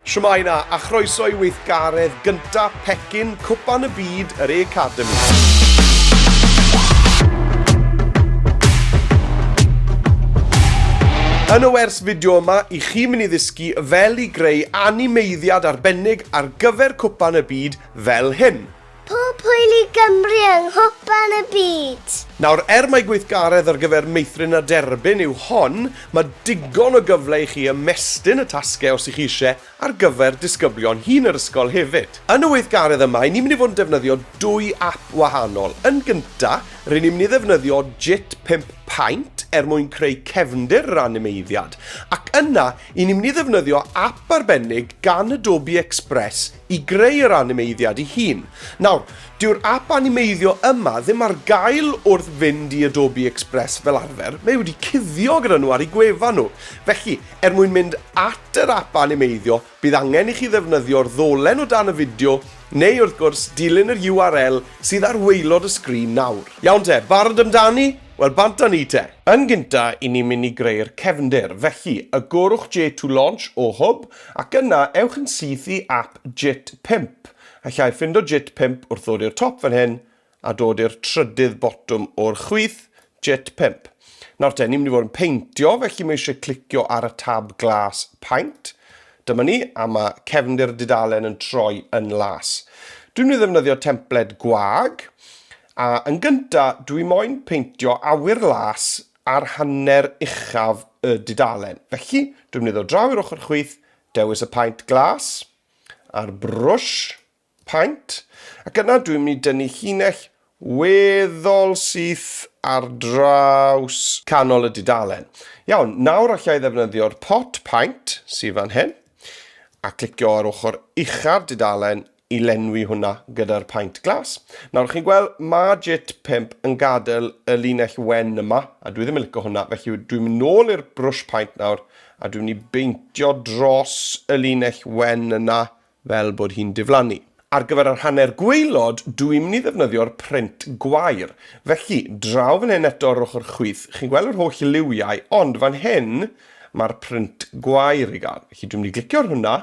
Shwmae 'na, a chroeso i weithgaredd gynta pecyn Cwpan y Byd yr Academi. Yn y wers fideo yma, i chi mynd i ddysgu fel i greu animeiddiad arbennig ar gyfer cwpan y byd fel hyn. Pob hwyl i Gymru yng Nghwpan y Byd! Nawr, er mai gweithgaredd ar gyfer meithrin a derbyn yw hon, mae digon o gyfle i chi ymestyn y tasgau os y'ch chi eisiau ar gyfer disgyblion hŷn yr ysgol hefyd. Yn y weithgaredd yma, ry'n ni'n mynd i fod yn defnyddio dwy ap wahanol. Yn gynta', ry'n ni'n mynd i ddefnyddio Jit Pump Paint er mwyn creu cefndir yr animeiddiad, ac yna, ry'n ni'n mynd i ddefnyddio ap arbennig gan Adobe Express i greu yr animeiddiad ei hun. Nawr, dyw'r ap animeiddio yma ddim ar gael wrth fynd i Adobe Express fel arfer, mae wedi cuddio gyda nhw ar eu gwefan nhw. Felly, er mwyn mynd at yr ap animeiddio, bydd angen i chi ddefnyddio'r ddolen o dan y fideo, neu wrth gwrs, dilyn yr URL sydd ar waelod y sgrin nawr. Iawn te, barod amdani? Wel, bant â ni te! Yn gynta, 'yn ni'n mynd i greu'r cefndir, felly, y gorwch J to launch o Hwb, Ac yna ewch yn syth i ap JIT pump, allai ffindo JIT pump wrth ddod i'r top fan hyn a dod i'r trydydd botwm o'r chwith, JIT pump. Nawr te, ni'n mynd i fod yn peintio, felly mae eisiau clicio ar y tab glas paint. Dyma ni, a mae cefndir dudalen yn troi yn las. Dwi'n mynd i ddefnyddio templed gwag, a yn gynta dwi moyn peintio awyr las ar hanner uchaf y dudalen. Felly, dwi'n mynd i ddod draw i'r ochr chwith, dewis y paent glas, a'r brwsh paent, ac yna dwi'n mynd i dynnu llinell weddol syth ar draws canol y dudalen. Iawn, nawr allai ddefnyddio'r pot paent sydd fan hyn, a clicio ar ochr ucha'r dudalen i lenwi hwnna gyda'r paint glas. Nawr chi'n gweld mae jit 5 yn gadael y linell wen yma a dwi ddim yn licio hwnna felly dwi'n mynd nôl i'r brwsh paint nawr a dwi'n mynd i beintio dros y linell wen yna fel bod hi'n diflannu. Ar gyfer yr hanner gweilod, dwi'n mynd i ddefnyddio'r print gwair. Felly, draw fan hyn eto ar yr ochr chwith, chi'n gweld yr holl liwiau, ond fan hyn, mae'r print gwair i gael. Felly dwi'n mynd i glicio'r hwnna,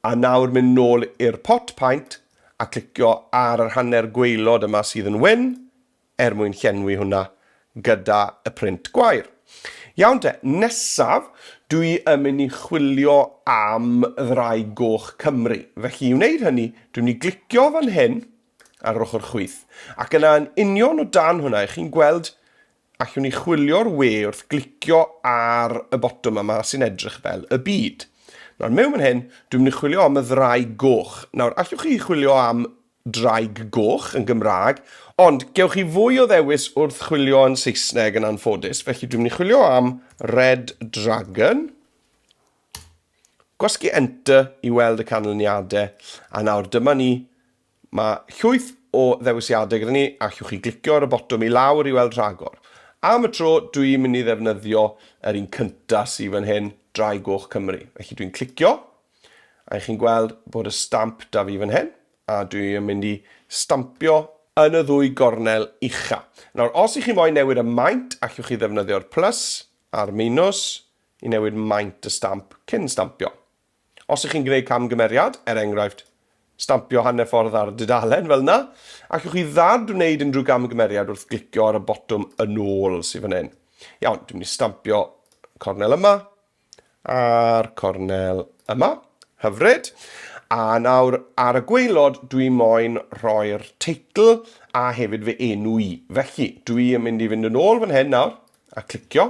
A nawr mynd nôl i'r pot paent a clicio ar yr hanner gwaelod yma sydd yn wyn, er mwyn llenwi hwnna gyda y print gwair. Iawn te, nesaf dwi yn mynd i chwilio am Ddraig Goch Cymru. Felly i wneud hynny, dwi'n mynd i glicio fan hyn ar yr ochr chwith, ac yna yn union o dan hwnna, 'ych chi'n gweld Allwn ni chwilio'r we wrth glicio ar y botwm yma sy'n edrych fel y byd. Nawr, mewn fan hyn, dwi'n mynd i chwilio am y ddraig goch. Nawr, allwch chi chwilio am draig goch yn Gymraeg, ond gewch chi fwy o ddewis wrth chwilio yn Saesneg yn anffodus, felly dwi'n mynd i chwilio am Red Dragon. Gwasgu Enter i weld y canlyniadau, a nawr dyma ni Mae llwyth o ddewisiadau gyda ni, allwch chi glicio ar y botwm i lawr i weld rhagor. Am y tro, dw i'n mynd i ddefnyddio yr un cynta sy fan hyn, Drai Goch Cymru. Felly dwi'n clicio, a i chi'n gweld bod y stamp da fi fan hyn, a dwi yn mynd i stampio yn y ddwy gornel ucha. Nawr, os i chi moyn newid y maint, allwch chi ddefnyddio'r plus a'r minws i newid maint y stamp cyn stampio. Os ych chi'n gwneud camgymeriad, er enghraifft, stampio hanner ffordd ar dudalen fel yna, allwch chi ddad wneud unrhyw gamgymeriad wrth glicio ar y botwm yn ôl sydd fan hyn. Iawn, dwi'n mynd i stampio cornel yma a'r cornel yma. Hyfryd. A nawr ar y gweilod dwi moyn rhoi'r teitl a hefyd fy enw i. Felly, dwi yn mynd i fynd yn ôl fan hyn nawr. a clicio.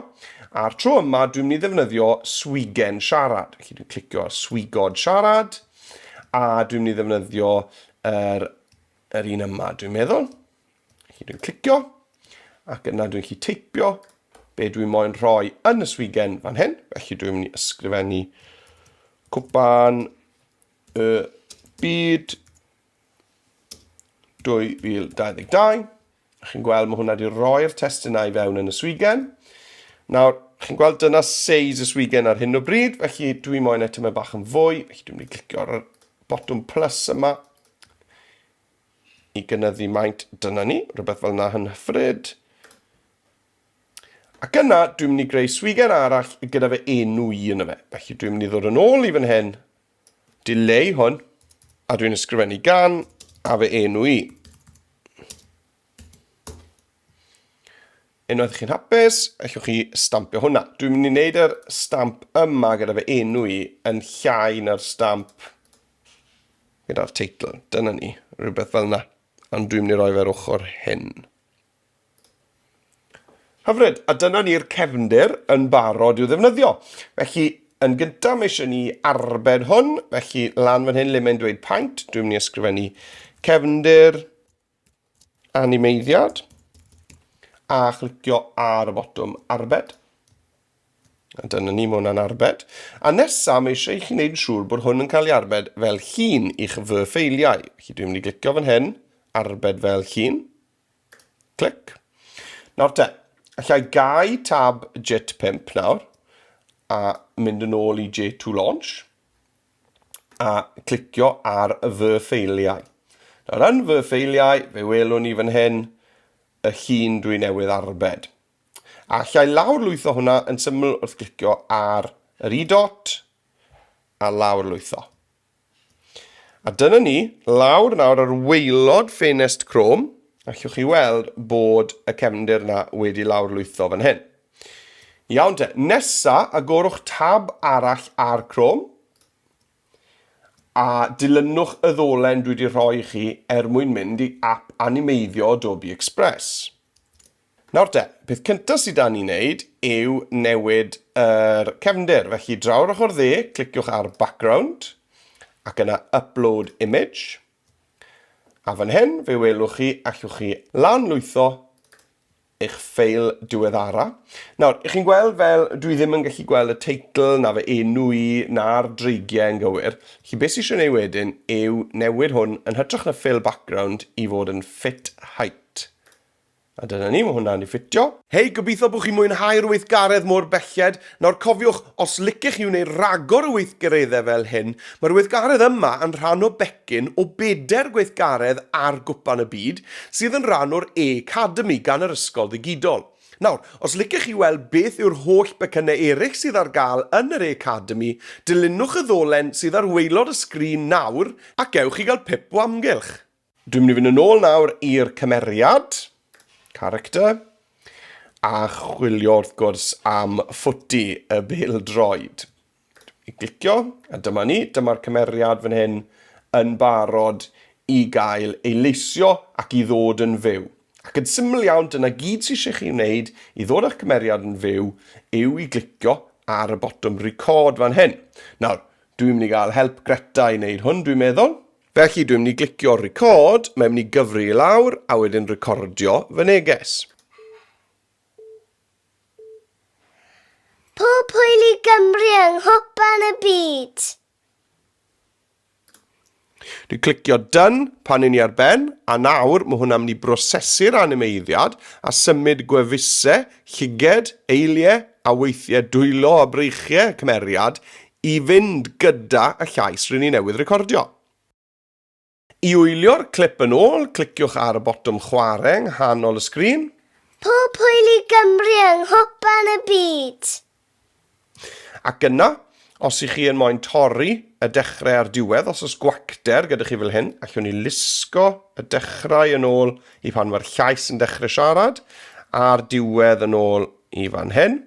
A'r tro yma, dwi'n mynd i ddefnyddio swigen siarad. Felly dwi'n clicio ar swigod siarad, a dwi'n mynd i ddefnyddio yr, yr un yma, dwi'n meddwl. Felly dwi'n clicio, ac yna dwi'n chi teipio be dwi'n moyn rhoi yn y swigen fan hyn. Felly dwi'n mynd i ysgrifennu cwpan y byd 2022. Chi'n gweld, mae hwnna wedi rhoi'r testunau i fewn yn y swigen. Nawr, chi'n gweld dyna seis y swigen ar hyn o bryd, felly dwi moyn eto mae bach yn fwy, felly dwi'n mynd i glicio ar y botwm plus yma i gynyddu maint dyna ni, rhywbeth fel yna yn hyfryd. Ac yna, dwi'n mynd i greu swigen arall gyda fe enw i yn y fe. Felly dwi'n mynd i ddod yn ôl i fan hyn, Dileu hwn, a dwi'n ysgrifennu gan, a fy enw i. Unwaith chi'n hapus, allwch chi stampio hwnna. Dwi'n mynd i wneud yr stamp yma gyda fy enw i yn llai na'r stamp gyda'r teitl. Dyna ni, rhywbeth fel yna. Ond dwi'n mynd i roi fe'r ochr hyn. Hyfryd, a dyna ni'r cefndir yn barod i'w ddefnyddio. Felly, yn gyntaf, mae eisiau ni arbed hwn, felly lan fan hyn le mae'n dweud paint, dwi'n mynd i ysgrifennu cefndir, animeiddiad, a chlicio ar y botwm arbed. A dyna ni, mae hwnna'n arbed. A nesa, mae eisiau i chi wneud yn siŵr bod hwn yn cael ei arbed fel llun i'ch fy ffeiliau. Felly dwi'n mynd i glicio fan hyn, arbed fel llun. Clic. Nawr te, allai gau tab Jet 5 nawr a mynd yn ôl i J2 Launch a clicio ar fy ffeiliau. Nawr yn fy ffeiliau, fe welwn ni fan hyn y llun dwi newydd arbed. A llai lawr lwytho hwnna yn syml wrth glicio ar yr i dot a lawr lwytho. A dyna ni, lawr nawr ar waelod ffenest Chrome, allwch chi weld bod y cefndir yna wedi lawrlwytho fan hyn. Iawn te, nesa agorwch tab arall ar Chrome, a dilynwch y ddolen dwi wedi rhoi chi er mwyn mynd i app animeiddio Adobe Express. Nawr te, peth cyntaf sydd 'da ni wneud yw newid yr cefndir. Felly draw'r ochr dde, cliciwch ar background ac yna upload image. A fan hyn, fe welwch chi, allwch chi lan lwytho eich ffeil diweddara. Nawr, ych chi'n gweld fel dwi ddim yn gallu gweld y teitl na fe enw i na'r dreigiau yn gywir. Chi beth sy'n eisiau ei wedyn yw newid hwn yn hytrach na fill background i fod yn fit height. A dyna ni, mae hwnna'n ei ffitio. Hei, gobeithio bod chi'n mwynhau'r weithgaredd mor belled. Nawr, cofiwch, os licech chi wneud rhagor o weithgareddau fel hyn, mae'r weithgaredd yma yn rhan o becyn o bedair gweithgaredd ar Gwpan y Byd, sydd yn rhan o'r A-cademi gan yr ysgol ddigidol. Nawr, os licech chi weld beth yw'r holl becynnau eraill sydd ar gael yn yr A-cademi, dilynwch y ddolen sydd ar waelod y sgrin nawr ac ewch i gael pip o amgylch. Dwi'n mynd i fynd yn ôl nawr i'r cymeriad, character, a chwilio wrth gwrs am ffwti y bildroed. I glicio, a dyma ni, dyma'r cymeriad fan hyn yn barod i gael ei leisio ac i ddod yn fyw. Ac yn syml iawn, dyna gyd sy'n eisiau chi wneud i ddod â'ch cymeriad yn fyw yw i glicio ar y botwm record fan hyn. Nawr, dwi'n mynd i gael help Greta i wneud hwn, dwi'n meddwl. Felly dwi'n mynd i glicio record, mae'n mynd i gyfri i lawr a wedyn recordio fy neges. Pob hwyl i Gymru yng Nghwpan y Byd! Dwi'n clicio done pan i ni ar ben, a nawr mae hwnna'n mynd i brosesu'r animeiddiad a symud gwefusau, llyged, eiliau a weithiau dwylo a breichiau y cymeriad I fynd gyda y llais rŷn ni newydd recordio. I wylio'r clip yn ôl, cliciwch ar y botwm chwarae yng nghanol y sgrin. Pob hwyl i Gymru yng Nghwpan y Byd! Ac yna, os y'ch chi yn moyn torri y dechrau a'r diwedd, os oes gwacter gyda chi fel hyn, allwn ni lusgo y dechrau yn ôl i pan mae'r llais yn dechrau siarad, a'r diwedd yn ôl i fan hyn.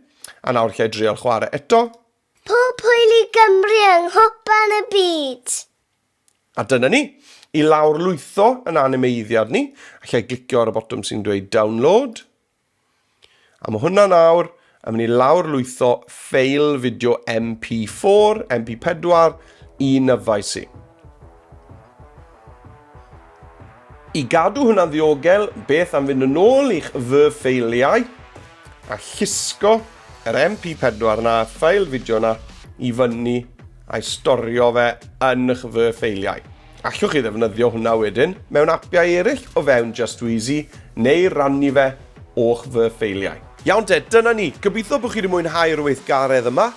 A nawr lle i drial chwarae eto, Pob hwyl i Gymru yng nghwpan y byd! A dyna ni, i lawr lwytho yn animeiddiad ni, a lle glicio ar y botwm sy'n dweud download. A mae hwnna nawr yn mynd i lawr lwytho ffeil fideo MP4, MP4 i nyfais i. I gadw hwnna'n ddiogel, beth am fynd yn ôl i'ch fy ffeiliau a llusgo yr MP4 na, y ffeil fideo na, i fyny a'i storio fe yn y'ch fy ffeiliau. Allwch chi ddefnyddio hwnna wedyn mewn apiau eraill o fewn Just Wheezy neu rannu fe o'ch fy ffeiliau. Iawn te, dyna ni. Gobeithio bod chi wedi mwynhau'r weithgaredd yma.